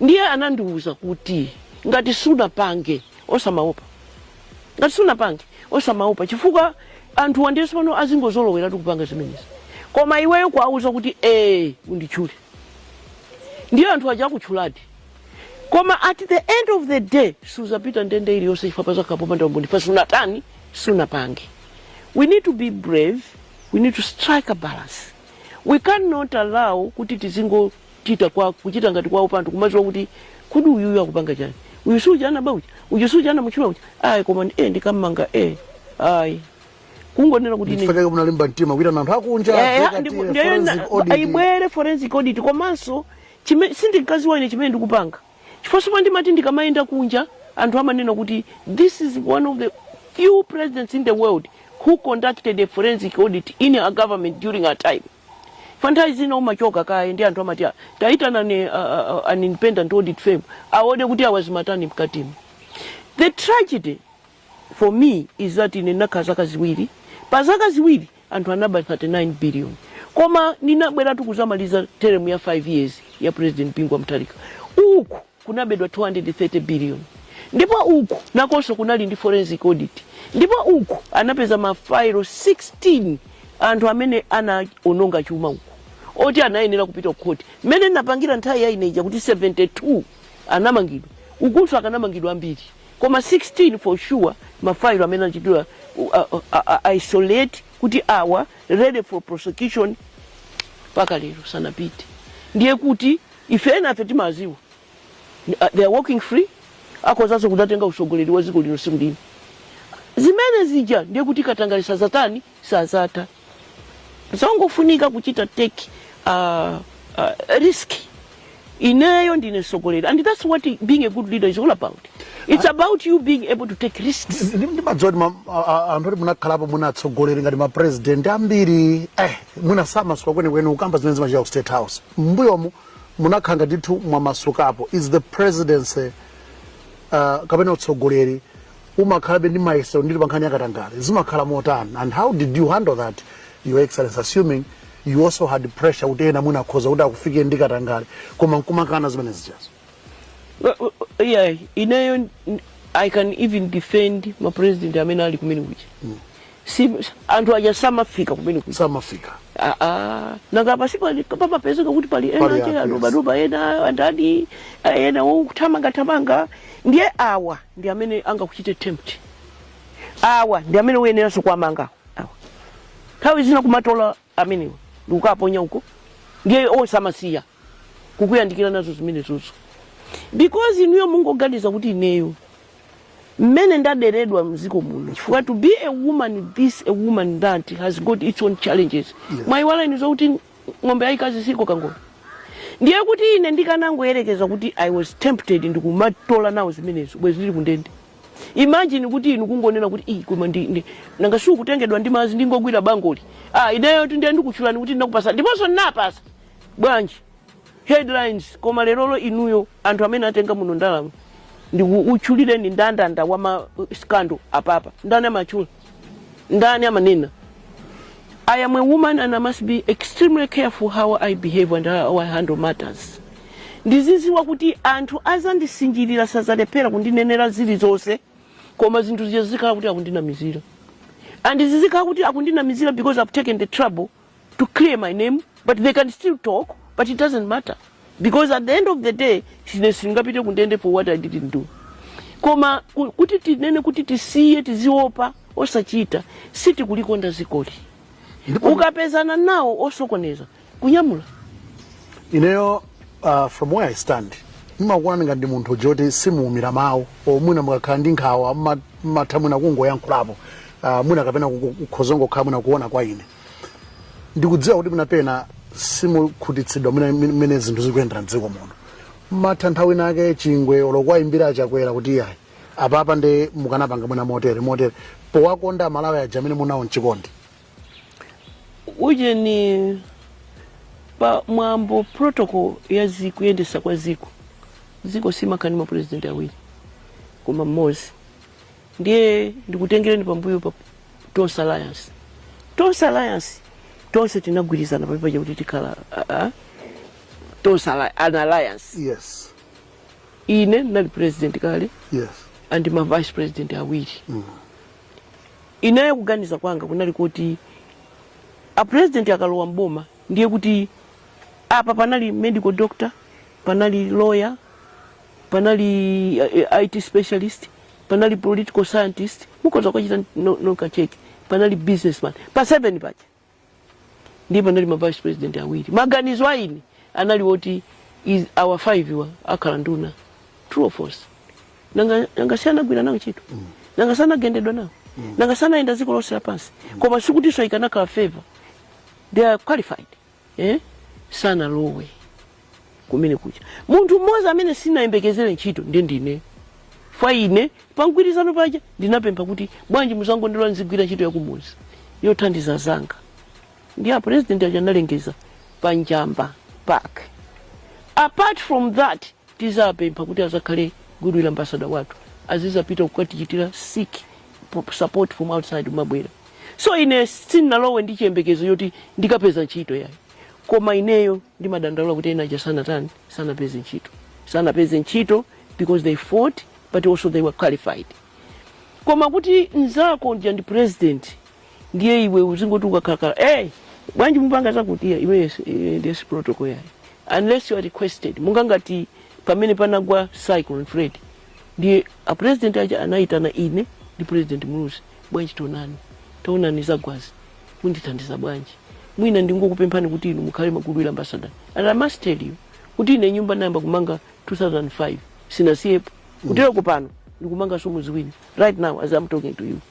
ndiye anandiwuza kuti ngati sunapange osamaopa ngati sunapange osamaopa chifukwa anthu ambiri pano azingozoloweratu kupanga zimenezi koma iweyo kuwauza kuti ee unditchule ndiye anthu aja akutchuladi koma at the end of the day suzapita ndende iliyonse chifukwa pazakhala popanda umboni kuti sunatani sunapange we need to be brave we need to strike a balance we cannot allow kuti tizingo chita kwake kuchita ngati kwa upandu kumaziwa kuti kodi uyuyu akupanga chani uyu suja anaba uja uyu suja anamutchula uja ayi koma ndi- eh ndikammanga eh ayi kungonena kuti ine ndikufuna kunena munalimba mtima kuita na anthu akunja Eh, advocate, ndipo- ndiyo forensic na- audit. ayibwere forensic audit komanso chime- sindinkaziwa ine chimene ndikupanga chifukwa soma ndimati ndikamayenda kunja anthu amanena kuti this is one of the few presidents in the world who conducted a forensic audit in a government during her time Chifukwa nthawi zina umachoka kaye ndi anthu amati "Ah, taitanani ah, ah, ah, an independent audit firm aone kuti awa amatani mkatimu. The tragedy for me is that ine ndinakhala zaka ziwiri pa zaka ziwiri anthu anaba 39 billion koma ndinabweratu kuzamaliza teremu ya 5 years ya president bingu wa mutharika uku kunabedwa 230 biliyoni ndipo uku nakonso kunali ndi forensic audit ndipo uku anapeza mafailo 16 anthu amene anaononga chuma uku oti anayenera kupita kukhoti mmene ndinapangira nthawi ya ineja kuti 72 anamangidwa ukunso akanamangidwa ambiri koma 16 for sure mafailo amene anachitidwa uh, uh, uh, isolate kuti awa ready for prosecution mpaka lero sanapite ndiye kuti Ife enafe timawaziwa. They are walking free. Akhozanso kudzatenga usogoleri wa ziko lino siku lina. Zimene zija ndiye kuti katangale sazatani sazata. Zongo funika kuchita take a uh, uh, risk. Ineyo ndine sogoleri. And that's what being a good leader is all about. It's ah. about you being able to take risks. Ndimadziwa anthu oti munakhalapo mu utsogoleri ngati ma president ambiri eh simumamasuka kwenikweni kukamba zimene zimachita ku state house. mmbuyomu munakhala ngati ndithu mwamasukapo is the presidency uh, kapena utsogoleri umakhalabe ndi mayesero ndili pa nkhani yakatangale zimakhala motani and how did you handle that your excellency assuming you also had pressure kuti ena mwina akhoza kuti akufikeni ndi katangale koma nkumakana zimene zijazo Uh, uh, yeah, ineyo n- i can even defend mapresident amene ali kumene kuja si anthu aja samafika kumene kuja samafika Ah, ah. nanga pasi pali- pamapezeka kuti pali ena Pali aja anthu, adobadoba ena andani aja, ena wothamangathamanga ndiye awa ndi amene angakuchite tempt awa ndi amene uyeneranso kuwamanga awa nthawi zina kumatola amenewa ndikukaponya uko, ndiye osamasiya kukuyandikira nazo zimenezozo, because inuyo mungoganiza kuti ineyo mmene ndaderedwa mziko muno chifukwa to be a woman this a woman that has got its own challenges yes. mwaiwala inu zokuti ng'ombe yaikazi sikoka ngolo ndiye kuti ine ndikanangoyerekeza kuti i was tempted ndikumatola nawo zimenezo bwezi ndili kundende imagine kuti inu kungonena kuti "Ih, koma ndi, ndi nanga si kutengedwa ndi madzi ndingogwira bangoli ah, ineyotu ndiye ndikutchulani kuti ndinakupatsa ndiponso ndinapatsa bwanji headlines koma lerolo inuyo anthu amene atenga muno ndalama ndikutchulireni ndandanda wa ma scandal apapa ndani amatchula ndani amanena I am a woman and I must be extremely careful how I behave and how I handle matters. Ndiziziwa kuti anthu azandisinjirira sazalephera kundinenera zilizonse koma zinthu zija zizikhala kuti akundinamizira. And zizikhala kuti akundinamizira because I've taken the trouble to clear my name but they can still talk but it doesn't matter because at the end of the day ine sindingapite kundende for what i didn't do koma ku- kuti tinene kuti tisiye tiziopa zochita sitikulikonda dzikoli Ndipo- ukapezana nawo osokoneza kunyamula ineyo uh, from where i stand ndimakuona ngati ndi munthu woti simuumira mawu, mwina mukakhala ndi nkhawa mma- mmatha mwina kungoyankhulapo uh, mwina kapena kukhoza kungokhala mwina kuona kwa ine ndikudziwa kuti mwina pena simukhutitsidwa mmene zinthu zikuyendera mdziko muno mumatha nthawi ina yake chingwe olo kuwayimbira a Chakwera kuti iyayi apapa ndiye mukanapanga mwina motere motere powakonda malawi ujeni amene muli nawo mchikondi ujeni pa mwambo protocol ya kayendetsedwe ka dziko dziko silimakhala ndi mapresidenti awiri koma mmodzi ndiye ndikutengereni pambuyo pa tonse alliance tonse alliance tonse tinagwirizana pamodzi paja kuti tikhala ah, ah, tonse Alli- an alliance yes ine ndinali president kale yes and ma vice president awiri ineyo kuganiza kwanga kunali kuti a president akalowa mboma ndiye kuti apa panali medical doctor panali lawyer panali uh, IT specialist, panali political scientist, mukhoza kukachita no- nokha check, panali businessman, pa 7 paja ndiye panali ma vice president awiri. Maganizo a ine anali oti awa five wa akhala nduna true or false nanga nanga sanagwire nawo ntchito nanga sanagendedwe nawo nanga sanayende dziko lonse lapansi koma sikutinso ikanakhala favor they are qualified eh? sanalowe kumene kuja munthu mmodzi amene sinayembekezere ntchito ndi ndine fwa ine pangwirizano paja ndinapempha kuti bwanji muzangondilola nzigwira ntchito yakumuzi yothandiza anzanga ndiye a president aja analengeza pa njamba park apart from that tizapempha kuti azakhale goodwill ambassador wathu azizapita kukatichitira seek support from outside kumabwera so ine sinalowe ndi chiyembekezo choti ndikapeza ntchito yayi koma ineyo ndimadandaula kuti ena aja sanatani sanapeze ntchito sanapeze ntchito because they fought but also they were qualified koma kuti mzako uja ndi president ndiye iwe uzingoti ukakhalakhala hey, bwanji mupanga zakuti iya iwe yes- eh, ndiye si protocol yayi unless you are requested monga ngati pamene panagwa cyclone freddy ndiye a president aja anayitana ine ndi president muluzi bwanji taonani zagwazi mundithandiza bwanji mwina ndingokupemphani kuti inu mukhale goodwill ambassador and i must tell you kuti ine nyumba nayamba kumanga 2005 sinasiyepo kutereko pano ndikumanganso muzi wina right now as i'm talking to you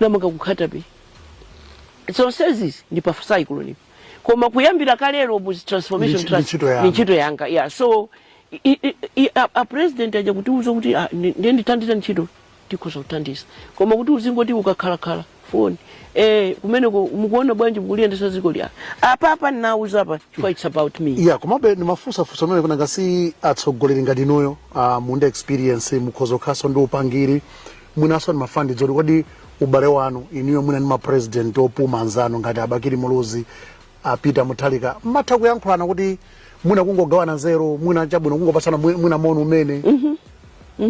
namanga ku Nkhata-bay zonsezi ndi pa cyclone koma kuyambira kalero mu transformation Ndi- ndi trust ntchito yanga. ndi ntchito yanga yeah so i- i- i- a- a president aja kutiuza kuti ah, ndi- ndiye ndithandizeni ntchito tikhoza kuthandiza koma kuti uzingoti ukakhalakhala foni eh kumeneko mukuona bwanji mukuliyendesa dziko iya apa apa ndinauza apa chifukwa it's about me ya komabe ndimafunsafunsa zimenezi nanga si atsogoleri ngati inuyo uh, muli ndi experience mukhoza kukhalanso ndi upangiri mwinanso ndimafuna ndidziwe kuti kodi ubale wanu inuyo mwina ndi mapresident opuma anzanu ngati a bakili muluzi a peter mutharika mmatha kuyankhulana kuti mwina kungogawana nzeru mwina chabwino kungopatsana mwi- mwina moni umene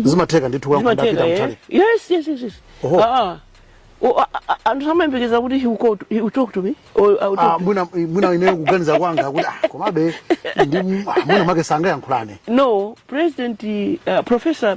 zimatheka ndithu kuyankhula ndi Zimatheka, a peter eh? mutharika Yes, yes, yes, yes. Oho. Ah, ah. Oh, ah, ah, ah, anthu amayembekeza kuti he will call to- he will talk to me or I will Ah, talk to mwina mwina ineyo kuganiza kwanga kuti ah, komabe ndi ah, mwina mwake sangayankhulane no president uh, professor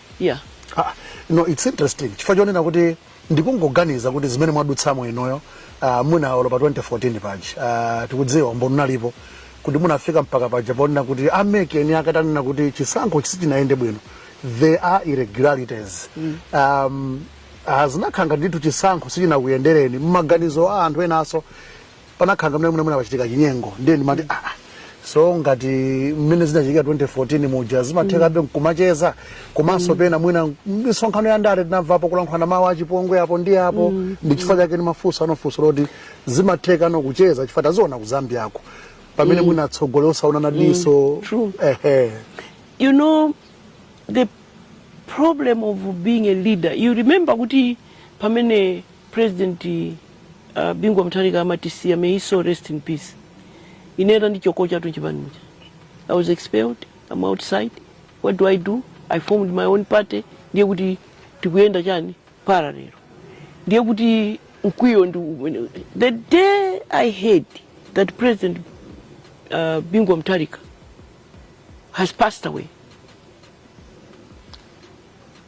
yeah Ah, no it's interesting chifukwa chonena kuti ndikungoganiza kuti zimene mwadutsamo inuyo uh, muone olo pa 2014 paja uh, tikudziwa umboni ulipo kuti munafika mpaka paja ponena kuti a MEC eni ake atanena kuti chisankho chisi- sichinayende bwino there are irregularities mm. um, uh, zinakhala ngati ndithu chisankho sichinakuyendereni mmaganizo a anthu enanso panakhala ngati mmene mwina mwina pachitika chinyengo ndiye ndimati ah ah. so ngati mmene zinachitika 2014 muja zimathekabe nkumacheza komanso pena mwina misonkhano ya ndale tinamvapo kulankhulana mawu achipongwe apo ndi apo ndi chifukwa chake ndimafunsano funso loti zimatheka nokucheza chifukwa taziona ku zambiako pamene mwina atsogoleri osaonana diso True. ehe you know the problem of being a leader you remember kuti pamene President uh, Bingu wa Mutharika amatisiya, may his soul rest in peace. Ine atandichotsatu m'chipani muja. I was expelled, I'm outside. What do I do? I formed my own party. Ndiye kuti tikuyenda chani parallel. Ndiye kuti mkwiyo ndi umene- the day I heard that President uh, Bingu wa Mutharika has passed away.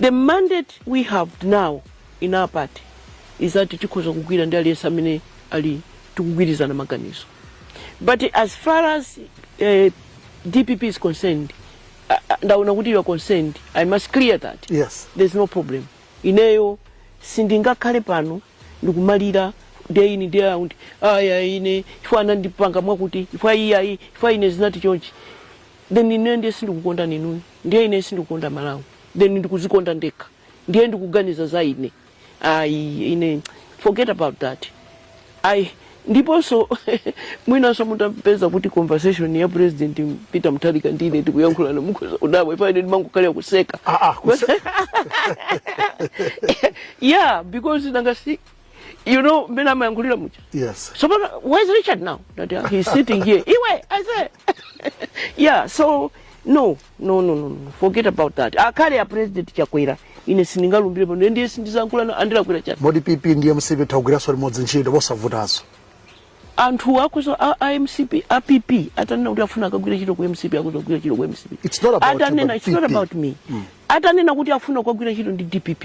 The mandate we have now in our party is that tikhoza kugwira ndi aliyense amene ali tikugwirizana maganizo but as far as uh, dpp is concerned uh, uh, ndaona kuti you are concerned i must clear that yes there's no problem ineyo sindingakhale pano ndikumalira day in day out aya ine chifukwa anandipanga mwakuti chifukwa iyayi chifukwa ine zinati chonchi then ineyo ndiye sindikukondani inuyo ndiye ineyo sindikukonda malawi then ndikuzikonda ndekha ndiye ndikuganiza za ine ayi ine forget about that ayi ndiponso mwinanso mutapeza kuti conversation ya president peter mutharika ndi ine tikuyankhulana mukhoza kudabwa chifukwa ine ndimangokhalira kuseka Ah, ah, kuse- yeah because nanga si You know, mmene amayankhulira muja. Yes. So, but where's Richard now? That uh, she's sitting here. Iwe, I say. yeah, so, no, no, no, no, no. Forget about that. Ngakhale ya president chakwera. Ine sindingalumbire pano. Ndiye sindizayankhulana ndi a Chakwera chati. Poti PP ndi MCP tagwiraso limodzi ntchito posavutaso. Anthu akhoza a, a MCP, a PP, atanena kuti afuna akagwire ntchito ku MCP, akhoza kugwira ntchito ku MCP. It's not about atanena, you, it's not about me. Mm. Atanena kuti afuna kugwira ntchito ndi DPP.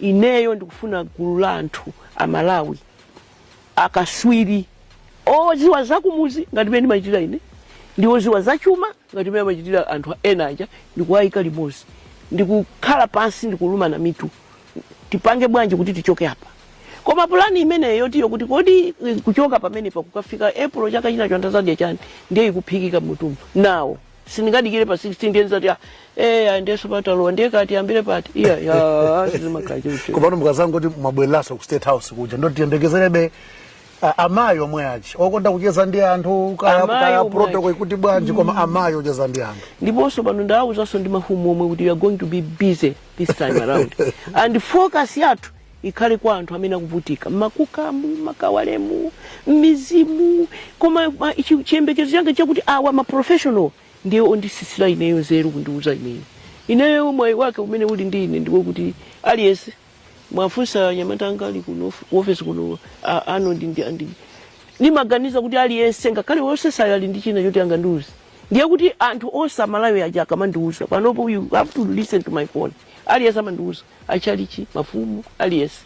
Ineyo ndikufuna gulu la anthu a Malawi akaswiri oziwa zakumuzi ngati mene ndimachitira ine ndi oziwa zachuma ngati mene amachitira anthu ena aja ndikuwayika limodzi ndikukhala pansi ndikulumana mitu tipange bwanji kuti tichoke apa koma pulani imeneyo yotiyo kuti kodi eh, kuchoka pamenepa kukafika april chaka chinacho anthu azadya chani ndiye ikuphikika m'mutu mwawo sindingadikire pa 16 ndiye ndizati ah, eh ah, ndiye tsopano talowa ndiye kaya tiyambire pati iya ya sizimakhala choncho komano mukazangoti mwabwereraso ku state house kuja ndoti tiyembekezerebe a- amayi omwe aja okonda kucheza ndi anthu kaya- Amayi kaya omwe protocol aja. ikuti bwanji koma amayi ocheza ndi anthu ndiponso pano ndawuzanso ndi mafumu omwe kuti we are going to be busy this time around and focus yathu ikhale kwa anthu amene akuvutika mmakukamu makawalemu mmizimu koma ma- chi- chiyembekezo changa chakuti awa ma professional ndiye ondisitsira ineyo nzeru kundiuza ineyo ineyo mwayi wake umene uli ndi ine ndi wakuti aliyense mwafunsa anyamata anga ali kuno ofesi kuno a- ano ndi ndi andi ndimaganiza kuti aliyense ngakhale wosesayo ali ndi china choti angandiuze ndiye kuti anthu onse a Malawi aja akamandiuza panopo you have to listen to my phone aliyense amandiuza achalichi mafumu aliyense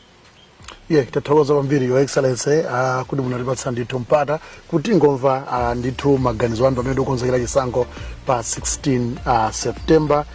yeah, tathokoza kwambiri your excellency uh, kuti munatipatsa ndithu mpata kuti tingomva uh, ndithu maganizo anu pamene tikukonzekera chisankho pa 16 uh, september